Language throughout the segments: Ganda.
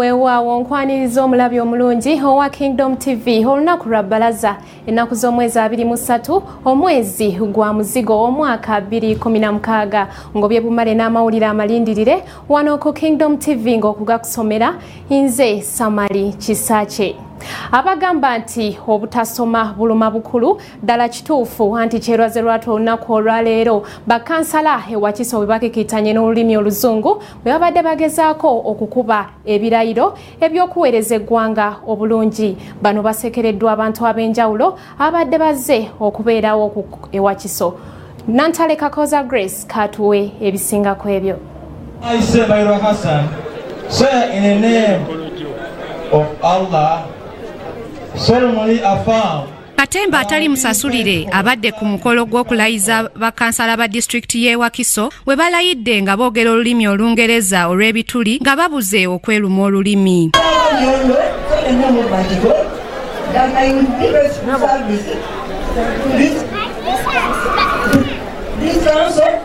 weewaawo nkwaniriza omulabi omulungi owa kingdom tv olunaku lwa bbalaza ennaku z'omwezi 23 omwezi gwa muzigo omwaka 216 ngobye bumale n'amawulire amalindirire wano ku kingdom tv ng'okugakusomera nze samali kisakye abagamba nti obutasoma buluma bukulu ddala kituufu anti kyerwaze lwatu olunaku olwaleero bakansala ewakiso bwe bakikitanye n'olulimi oluzungu bwe babadde bagezaako okukuba ebirayiro eby'okuweereza eggwanga obulungi bano basekereddwa abantu ab'enjawulo ababadde bazze okubeerawo ewakiso nantale kakoza grace katuwe ebisinga ku ebyo Katemba atali musasulire abadde ku mukolo gw'okulayiza bakansala ba disitulikiti y'e Wakiso we balayidde nga boogera olulimi Olungereza olw'ebituli nga babuze okweluma olulimi. This council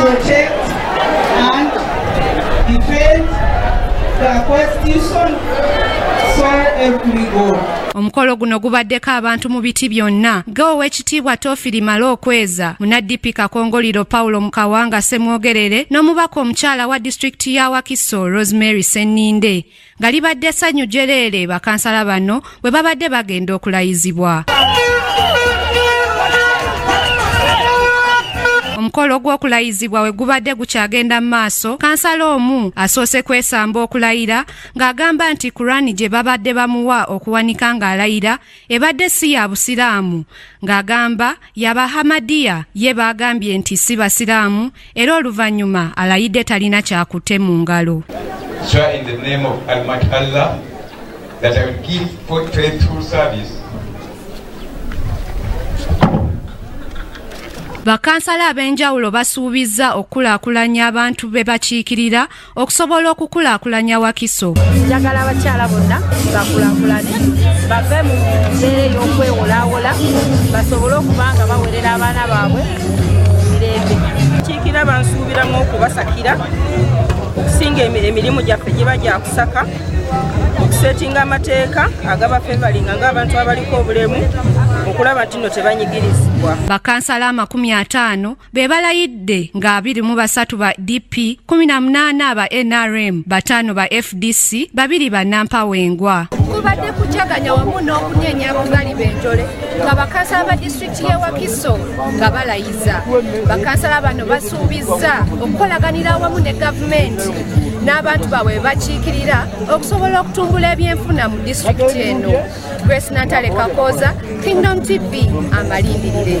protect and defend the constitution so help me God. omukolo guno gubaddeko abantu mu biti byonna ge ow'ekitiibwa tofiri male okweza munaddipi kakongoliro paulo mukawanga semwogerere n'omubaka omukyala wa disitulikiti ya wakiso rosemary senninde nga libadde ssanyu jjereere bakansala bano bwe babadde bagenda okulayizibwa omukolo gw'okulayizibwa we gubadde gukyagenda mu maaso kansala omu asoose kwesamba okulayira ng'agamba nti kurani gye babadde bamuwa okuwanika ng'alayira ebadde si ya busiraamu ng'agamba yabahamadiya ye baagambye nti si basiraamu era oluvannyuma alayidde talina kyakutte mu ngalo bakansala ab'enjawulo basuubizza okukulaakulanya abantu be bakiikirira okusobola okukulaakulanya wakiso njagala abakyala bonna bakulaakulane bave mu mbeera ey'okwewolaawola basobole okuba nga bawerera abaana baabwe mirembe kiikira bansuubiramu okubasakira okusinga emirimu gyaffe giba gyakusaka okusetinga amateeka agaba fevalinga ng'abantu abaliko obulemu okulaba nti no tebanyigirizibwa bakansala amakumi ataano be balayidde nga abiri mu basatu ba DP, kumi na munaana ba NRM, bataano ba FDC, babiri ba Nampawengwa. Kubadde kujaganya wamu n'okunyenya abagali b'enjole nga bakansala ba disitulikiti y'e Wakiso nga balayiza. Bakansala bano basuubizza okukolaganira awamu ne gavumenti n'abantu baabwe bakiikirira okusobola okutumbula ebyenfuna mu disitulikiti eno. Grace Natale Kakoza, Kingdom TV, amalindirire.